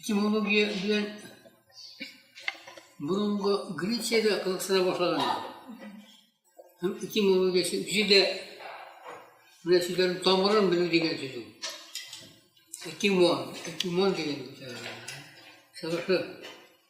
Этимология белән борынгы Грециядә кызыксына башлаганнар. Һәм этимологиясе җирдә менә сүзләрнең тамырын белү дигән сүз ул. Этимон, этимон дигән сәбәпле.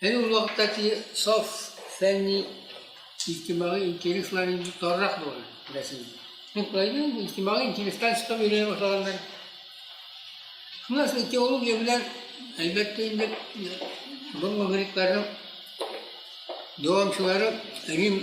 Әйе, ул вакытта ки саф фәнни иҗтимагый интереслар инде таррак булган Рәсәйдә. Һәм кайда инде иҗтимагый интерестан чыгып йөрә башлаганнар. Шуннан соң теология белән әлбәттә инде борынгы грекларның дәвамчылары Рим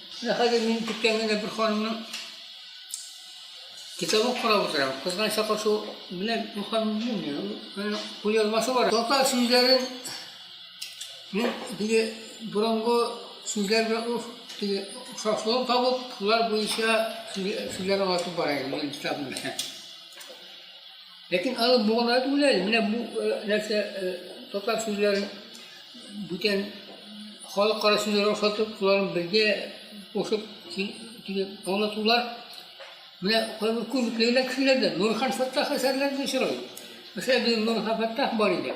Менә хәзер мин көткән генә бер ханымның китабын карап утырам. Кызган чакы шул, менә бу ханым белмим, кул язмасы бар. Татар сүзләрен мин теге борынгы сүзләр белән уф, теге охшашлыгын табып, шулар буенча сүзләр аңлатып бара идем, мин китабым белән. Ләкин алар буалар түгел әле. Менә бу нәрсә татар сүзләрен бүтән халыкара сүзләргә охшатып, шуларын бергә кушып аңлатулар. Менә кайбер күзлекле генә кешеләрдә Нурхан Фәттах әсәрләрендә очрый. Мәсәлән, безнең Нурхан Фәттах бар иде.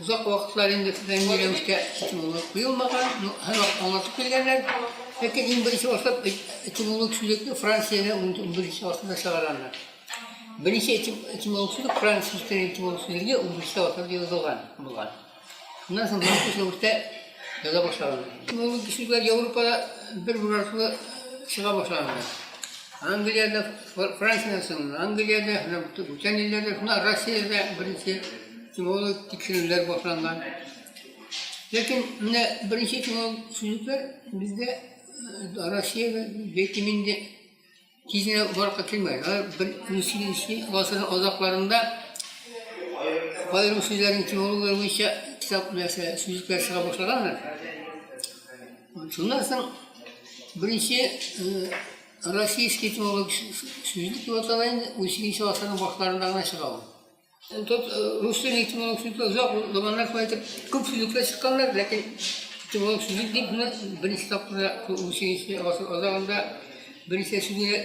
Озак вакытлар инде фәнни рәвештә этимология куелмаган, но һәрвакыт аңлатып килгәннәр. Ләкин иң беренче башлап этимолог сүзлекне Франциядә унберенче гасырда чыгараннар. Беренче этимолог сүзлек Франция сүзлек этимолог сүзлеге унберенче гасырда язылган булган. Шуннан соң махсус рәвештә яза башлаганнар. Этимолог сүзләр Европада бер бер артлы чыга башлаганнар. Англиядә, Франциядә соң, Англиядә, бүтән илләрдә, шуннан Россиядә беренче Тиморлы тикшерүләр башланган. Ләкин менә беренче тиморлы сүзлекләр бездә э, Россиягә бәлки инде тизенә баракка килмәгән. Алар бер унсигезенче гасыр азакларында аерым сүзләрнең тиморлыклары буенча китап нәрсә сүзлекләр чыга башлаганнар. Шуннан соң беренче э, российский тиморлык сүзлек дип атала инде унсигезенче гасырның башларында гына чыга ул. Тот русча этимолог сүзе озак заманнар шулай итеп күп сүзлекләр чыкканнар, ләкин этимолог сүзе дип менә беренче тапкырда 18 гасыр азагында беренче сүзе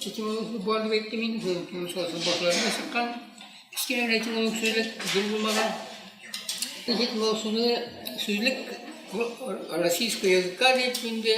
этимолог сүзе бар дип әйттем инде, шул 19 гасыр башларында чыккан. Кечкенә генә этимолог сүзлек зур булмаган. Этимолог сүзе сүзлек российского языка дип инде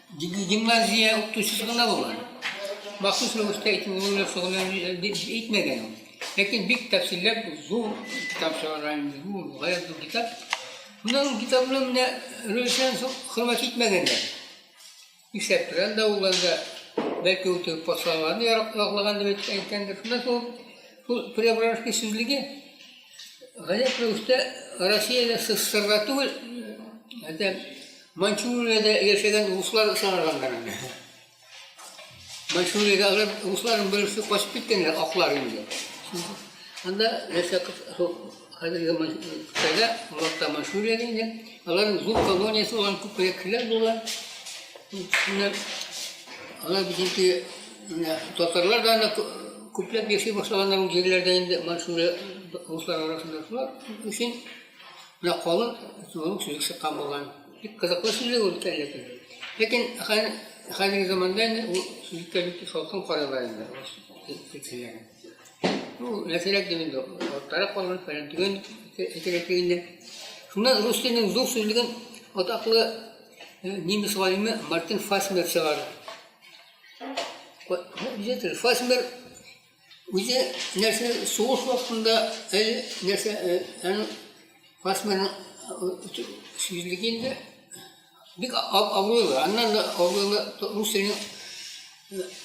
Гимназия укытучысы гына булган. Махсус рәвештә итеп ул белән шөгыльләнү әйтмәгән ул. Ләкин бик тәфсилләп зур китап чыгарган инде, зур, гаять зур китап. Менә ул китап белән менә рөлсен хөрмәт итмәгәннәр. Нишләп тора да ул анда бәлки ул теге патшаларны яраклаган дип әйтеп әйткәндер. Шуннан соң ул Преображенский сүзлеге гаять рәвештә Россиядә СССРда түгел, әтәм Маньчжуриядә яшәгән руслар чыгарганнар аны. Маньчжуриядәге русларның берсе качып киткәннәр, аклар инде. Анда яшәп, хәзерге Кытайда, Муракта Маньчжуриядә инде, аларның зур колониясе булган, күп кешеләр булган. Шуннан алар битенки татарлар да анда күпләп яши башлаганнар ул җирләрдә инде, Маньчжурия руслар арасында. Шулар өчен Менә калын зур сөзек чыккан булган. Бик кызыклы сүзлек ул әле көн. Ләкин хәзерге заманда инде ул сүзлеккә бик салкын карыйлар инде. Ну, нәрсәләр дип инде, аттарак калган, фәлән түгел, әйтәләтли инде. Шуннан рус теленең зур сүзлеген атаклы немец галиме Мартин Фасмер чыгарды. Фасмер Үзе нәрсә сугыш вакытында әле нәрсә аны фасмерны сүзлек инде бик абруйлы. Аннан да абруйлы Русиянең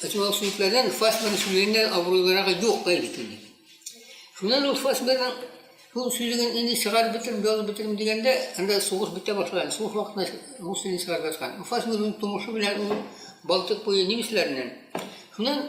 этимолог сүзлекләрдән фасмерны сүзлегеннән абруйлырагы юк әле инде. Шуннан ул фасмерның шул сүзлеген инде чыгарып бетерим, язып бетерим дигәндә, анда сугыш бетә башлаган. Сугыш вакытында Русиянең чыгарып яткан. Фасмерның тумышы белән ул Балтык буе немецләреннән. Шуннан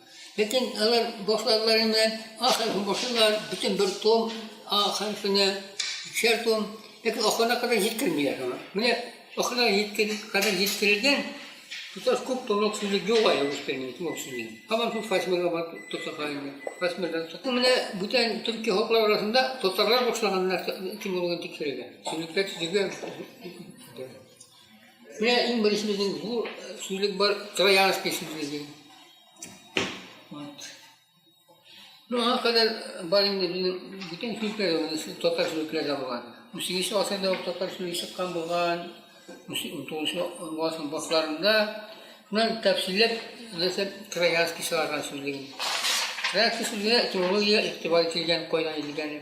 Ләкин алар башладылар инде, ахырын башлыйлар, бөтен бер том, ахырсына икешәр том, ләкин ахырына кадәр җиткермиләр аны. Менә ахырына кадәр җиткерелгән тоташ күп томлык сүзе юк әле рус теленең томлык сүзе. Һаман шул фасмирга бар тоташлар инде. Фасмирдан соң. Менә бүтән төрки халыклар арасында татарлар башлаган нәрсә кем булган тикшерелгән. Сүзлекләр төзергә Менә иң беренче безнең бу сүзлек бар, троянский сүзлеге. Вот. Ну, аңа кадәр бар инде безнең бүтән сүзләр, монысы татар сүзлекләре дә булган. 18 гасырда ук татар сүзлеге чыккан булган, 19 гасыр башларында. Шуннан тәфсилләп, нәрсә троянский чыгарган сүзлеген. Троянский сүзлегенә этимология игътибар ителгән, кайдан ителгәне.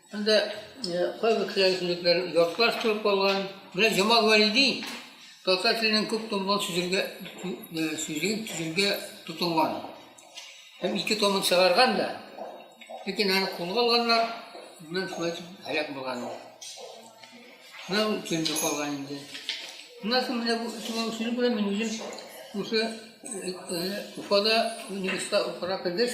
Анда кайбер кешеләр сүзлекләр ятлаш торып калган. Менә Җамал Вәлиди татар теленең күп томлы сүзлегә сүзлеген төзергә тотынган. Һәм ике томын чыгарган да. Ләкин аны кулга алганнар, моннан шулай итеп һәлак булган. Менә ул төзелеп калган инде. Моннан соң менә бу томлы сүзлек белән мин үзем Уфада университетта укырга кергәч,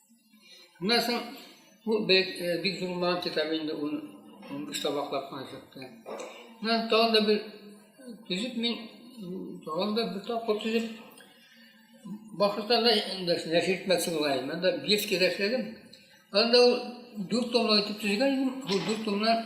Шуннан соң бу бик э, зур булмаган китап инде, ул 15 табаклап кына чыкты. Шуннан тагын да бер төзеп мин тагын да бер тапкыр төзеп башкортстанда нәшер итмәкче була идем. Анда Бельскийда эшләдем. Анда ул дүрт томлы итеп төзегән идем. Бу дүрт томнан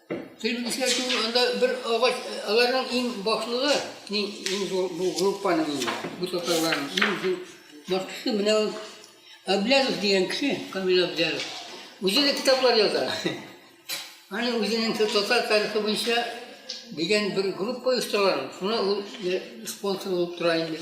Тел үзгәртү анда бер агач, аларның иң башлыгы, иң, иң зур бу группаның инде, бу татарларның иң зур башлысы менә ул Аблязов дигән кеше, Камил Аблязов. Үзе дә китаплар яза. Аны үзенең татар тарихы буенча дигән бер группа оештырган. Шуны ул спонсор булып тора инде.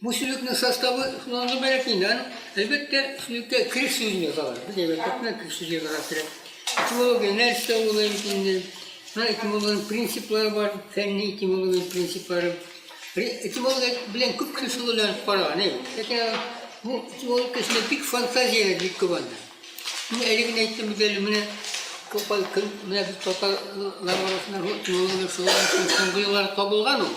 Бу сүзлекнең составы шуннан гыйбарәт инде. Аның, әлбәттә, сүзлеккә крик сүзен язалар. Без әйбәтләп кенә крик сүз язарга кирәк. Этимология нәрсә ул бит инде? Менә этимологиянең принциплары бар, фәнни этимология принциплары. Этимология белән күп кеше шөгыльләнеп караган, әй. Ләкин бу этимология эчендә бик фантазияләр бик күп анда. Мин әле генә әйттем бит әле, менә Тукай кем, менә без татарлар арасында этимология шөгыльләнеп соңгы елларда табылган ул.